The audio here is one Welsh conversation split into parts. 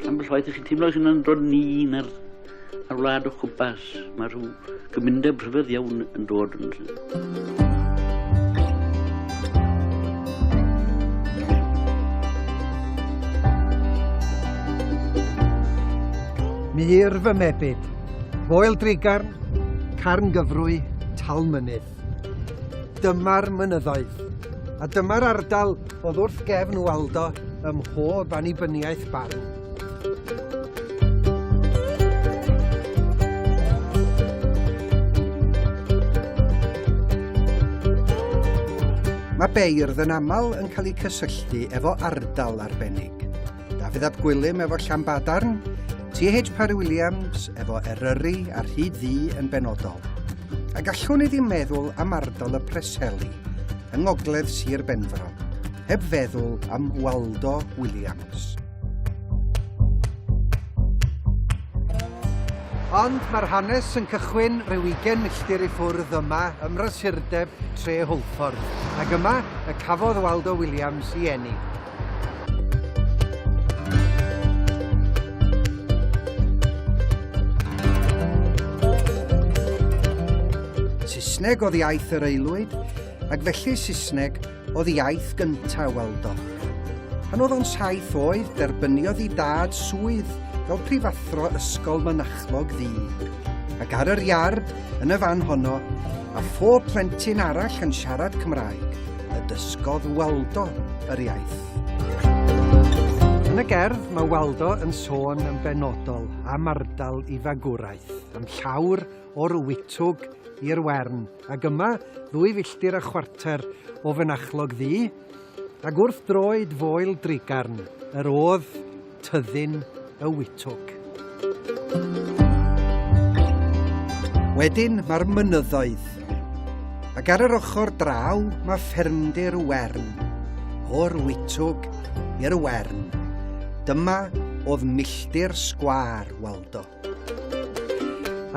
Ambell waith ych chi'n teimlo eich hunan dod ni na'r ar wlad o chwmpas. Mae rhyw gymundeb rhyfedd iawn yn dod yn lle. Mur fy mebyd. Foel Drigarn, Carn Gyfrwy, Talmynydd. Dyma'r mynyddoedd, a dyma'r ardal oedd wrth gefn Waldo ym mhob annibyniaeth barn. Mae beirdd yn aml yn cael eu cysylltu efo ardal arbennig, Dafydd ap Gwilym efo Llanbadarn, TH Parry Williams efo Eryri ar hyd ddi yn benodol. A gallwn i ddim meddwl am ardal y Preseli, yng ngogledd Sir Benfro, heb feddwl am Waldo Williams. Ond mae'r hanes yn cychwyn rhyw ugen milltir i ffwrdd yma ym mrysurdeb Tre Hwlffordd, ac yma y cafodd Waldo Williams i enni. Saesneg oedd iaith yr aelwyd, ac felly Saesneg oedd iaith gyntaf Weldo. Pan oedd o'n saith oed, derbyniodd i dad swydd fel prifathro ysgol mynachlog ddi, ac ar yr iard yn y fan honno a phob plentyn arall yn siarad Cymraeg, y dysgodd Waldo yr iaith. Yn y gerdd, mae Waldo yn sôn yn benodol am ardal i fagwraeth, am llawr o'r witwg i'r wern, ac yma, ddwy filltir a chwarter o fynachlog ddu, Ac wrth droed foel drugarn yr oedd tyddyn y Witwg. Wedyn mae'r mynyddoedd, ac ar yr ochr draw mae ffermdir Wern, o'r Witwg i'r Wern. Dyma oedd milltir sgwâr, Waldo.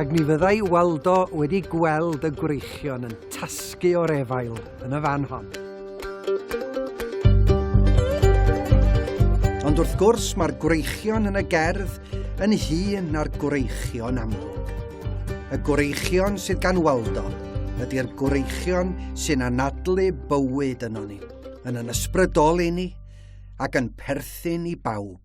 Ac mi fyddai Waldo wedi gweld y gwreichion yn tasgu o'r efail yn y fan hon. Ond wrth gwrs mae'r gwreichion yn y gerdd yn hun na'r gwreichion amlwg. Y gwreichion sydd gan Waldo ydy'r gwreichion sy'n anadlu bywyd yno ni, yn yn ysbrydoli ni ac yn perthyn i bawb.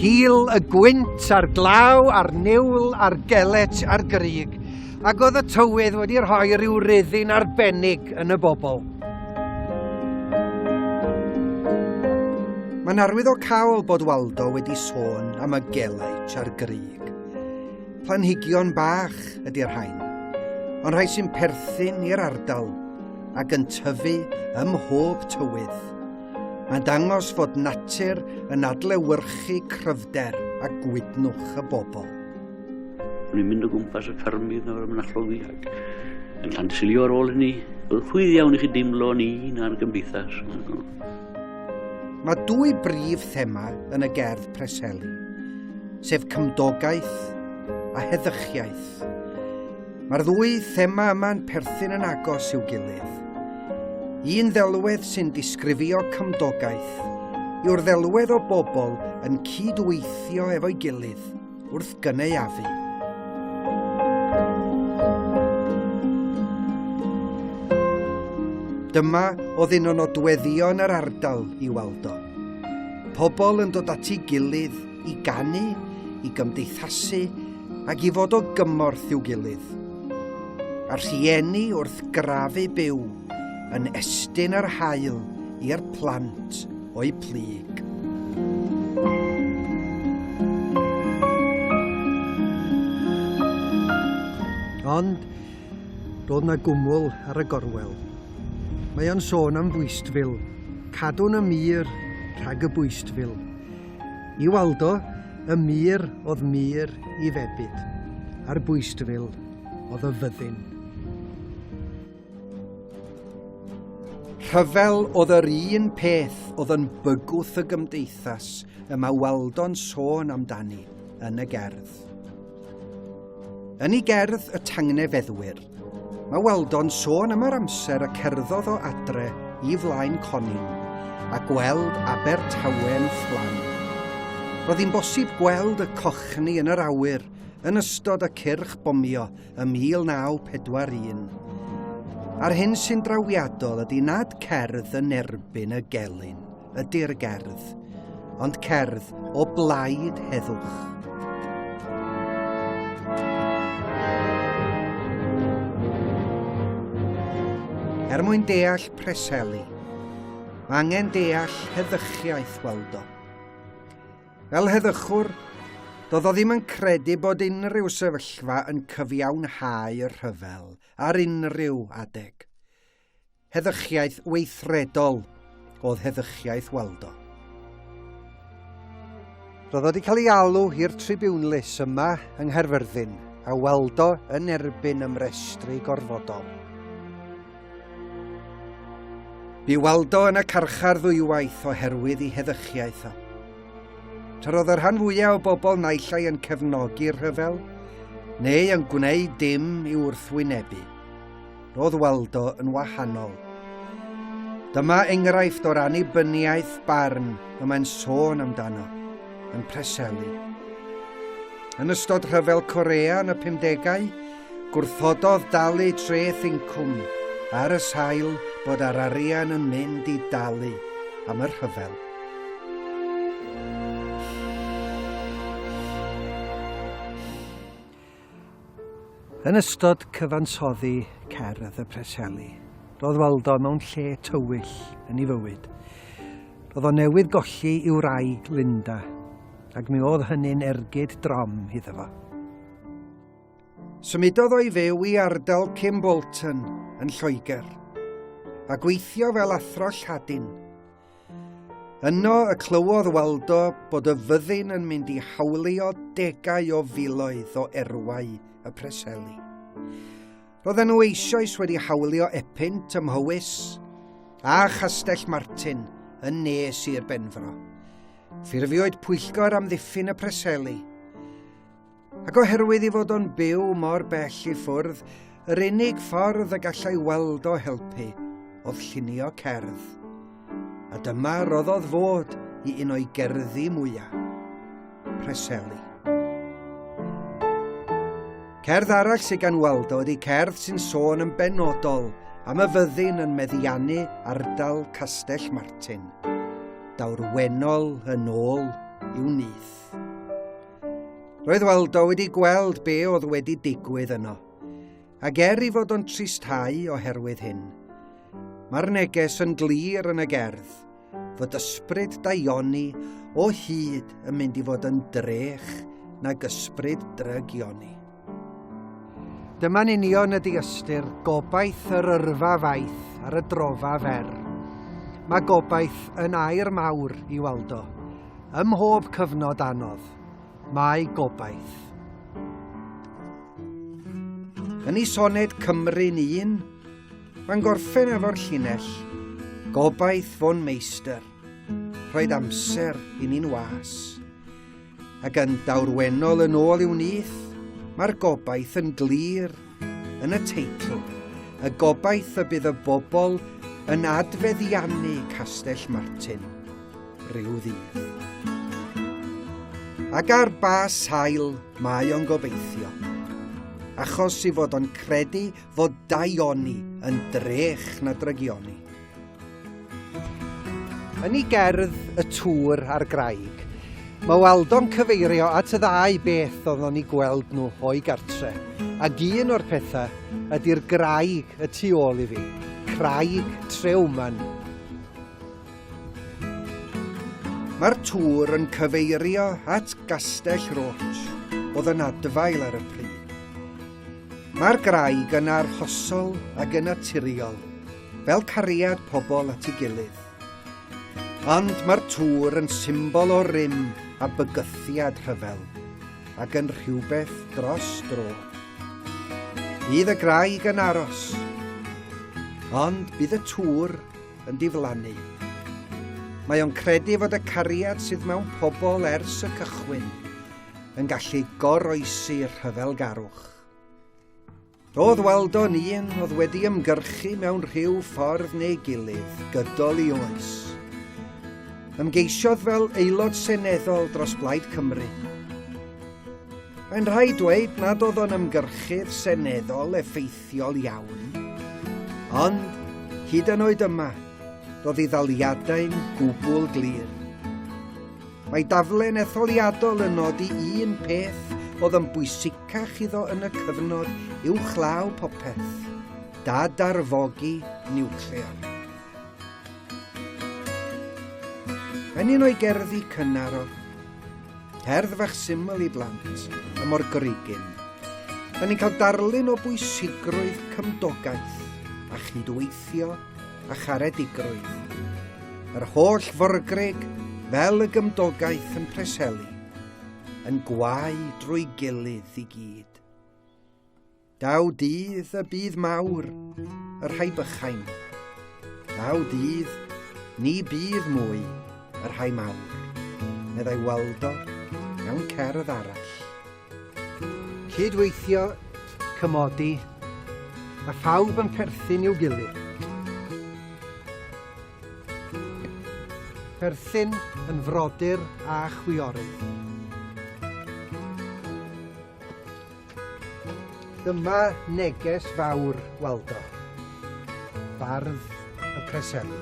Hil y gwynt a'r glaw a'r niwl a'r gelet a'r gryg. Ac oedd y tywydd wedi rhoi rhyw ryddyn arbennig yn y bobl. Mae'n arwyddocaol bod Waldo wedi sôn am y gelaich a'r grig. Planhigion bach ydy'r rhain, ond rhai sy'n perthyn i'r ardal ac yn tyfu ym mhob tywydd. Mae'n dangos fod natur yn adlewyrchu cryfder a gwydnwch y bobl. Rwy'n mynd o gwmpas y ffermydd nawr am nachlogi ac yn llansilio ar ôl hynny. Oedd chwydd iawn i chi deimlo ni na'r gymdeithas. Mae dwy brif thema yn y gerdd Preseli, sef cymdogaeth a heddychiaeth. Mae'r ddwy thema yma'n perthyn yn agos i'w gilydd. Un ddelwedd sy'n disgrifio cymdogaeth yw'r ddelwedd o bobl yn cydweithio efo'i gilydd, wrth gynaeafu. Dyma oedd un o'n odweddion yr ardal i weld o. Pobl yn dod at ei gilydd i ganu, i gymdeithasu ac i fod o gymorth i'w gilydd. A rhieni wrth grafu byw yn estyn yr hael i'r plant o'u plyg. Ond roedd na gwmwl ar y gorwel. Mae o'n sôn am fwystfil, cadw'n y mir rhag y bwystfil. I Waldo, y mir oedd mir i febyd, a'r bwystfil oedd y fyddin. Rhyfel oedd yr un peth oedd yn bygwth y gymdeithas y mae Waldo'n sôn amdani yn y gerdd. Yn ei gerdd y tangnefeddwyr, mae Waldo'n sôn am yr amser y cerddodd o adre i flaen Conin a gweld Abertawe'n fflan. Roedd hi'n bosib gweld y cochni yn yr awyr yn ystod y cyrch bomio ym 1941. A'r hyn sy'n drawiadol ydy nad cerdd yn erbyn y gelyn ydy'r gerdd, ond cerdd o blaid heddwch. Er mwyn deall Preseli, mae angen deall heddychiaeth Waldo. Fel heddychwr, doedd o ddim yn credu bod unrhyw sefyllfa yn cyfiawnhau y rhyfel ar unrhyw adeg. Heddychiaeth weithredol oedd heddychiaeth Waldo. Roedd o wedi cael ei alw i'r tribiwnlys yma yng Nghaerfyrddin a Waldo yn erbyn ymrestru gorfodol. Bu Waldo yn y carchar ddwywaith oherwydd ei heddychiaeth o. Tra oedd y rhan fwyaf o bobl naillai yn cefnogi'r rhyfel, neu yn gwneud dim i wrthwynebu. Roedd Waldo yn wahanol. Dyma enghraifft o'r annibyniaeth barn y mae'n sôn amdano yn Preseli. Yn ystod rhyfel Corea yn y 50au, Gwrthododd dalu treth incwm ar y sail bod ar arian yn mynd i dalu am y rhyfel. Yn ystod cyfansoddi cerdd y Preseli, roedd Waldo mewn lle tywyll yn ei fywyd. Roedd o newydd golli i'w wraig Linda, ac mi oedd hynny'n ergyd drom iddo fo. Symudodd o'i fyw i ardal Kimbolton yn Lloegr a gweithio fel athro Lladin. Yno y clywodd Waldo bod y fyddin yn mynd i hawlio degau o filoedd o erwau y preseli. Roedden nhw eisoes wedi hawlio Epynt ym Mhywys a Chastell Martin yn nes i'r Benfro. Ffurfiwyd pwyllgor amddiffyn y preseli Ac oherwydd i fod o'n byw mor bell i ffwrdd, yr unig ffordd y gallai weld o helpu oedd llunio cerdd. A dyma roddodd fod i un o'i gerddi mwyaf, Preseli. Cerdd arall sydd gan Waldo ydy cerdd sy'n sôn yn benodol am y fyddin yn meddiannu ardal Castell Martin. Daw'r wenol yn ôl i'w nyth. Roedd Waldo wedi gweld be oedd wedi digwydd yno, ac er i fod o'n tristhau oherwydd hyn, mae'r neges yn glir yn y gerdd fod ysbryd daioni o hyd yn mynd i fod yn drech nag ysbryd drygioni. Dyma'n union y diystyr gobaith yr yrfa faith ar y drofa fer. Mae gobaith yn air mawr i weld o. Ym mhob cyfnod anodd, mae gobaith. Yn ei soned Cymru'n un, mae'n gorffen efo'r llinell, gobaith fo'n meistr, rhoed amser i ni'n was. Ac yn dawrwennol yn ôl i'w nith, mae'r gobaith yn glir yn y teitl, y gobaith y bydd y bobl yn adfeddiannu Castell Martin rhyw ddydd. Ac ar ba sail mae o'n gobeithio, achos i fod o'n credu fod daioni yn drech na drygioni. Yn ei gerdd Y Tŵr a'r Graig, mae Waldo'n cyfeirio at y ddau beth oedd o'n ei gweld nhw o'i gartre, ac un o'r pethau ydy'r graig y tu ôl i fi, craig Treumann. Mae'r tŵr yn cyfeirio at Gastell Roach, oedd yn adfail ar y pryd. Mae'r graig yn arhosol ac yn naturiol, fel cariad pobl at ei gilydd. Ond mae'r tŵr yn symbol o rym a bygythiad rhyfel, ac yn rhywbeth dros dro. Bydd y graig yn aros, ond bydd y tŵr yn diflannu. Mae o'n credu fod y cariad sydd mewn pobl ers y cychwyn yn gallu goroesi'r rhyfelgarwch. Roedd Waldo yn un oedd wedi ymgyrchu mewn rhyw ffordd neu gilydd gydol i oes. Ymgeisiodd fel aelod seneddol dros Blaid Cymru. Mae'n rhaid dweud nad oedd o'n ymgyrchydd seneddol effeithiol iawn, ond hyd yn oed yma, roedd ei ddaliadau'n gwbl glir. Mae daflen etholiadol yn nodi un peth oedd yn bwysicach iddo yn y cyfnod uwchlaw popeth, dadarfogi niwclear. Yn un o'i gerddi cynnar o, cerdd fach syml i blant, y mor gorigyn, da ni'n cael darlun o bwysigrwydd cymdogaeth a chydweithio a charedigrwydd. Yr holl forgrug fel y gymdogaeth yn preselu, yn gwau drwy gilydd i gyd. Daw dydd y bydd mawr, y rhai bychain. Daw dydd, ni bydd mwy, y rhai mawr, meddai Waldo mewn cerdd arall. Cydweithio, cymodi, a phawb yn perthyn i'w gilydd. Perthyn yn frodyr a chwiorydd. Dyma neges fawr, Waldo. Bardd y Preseli.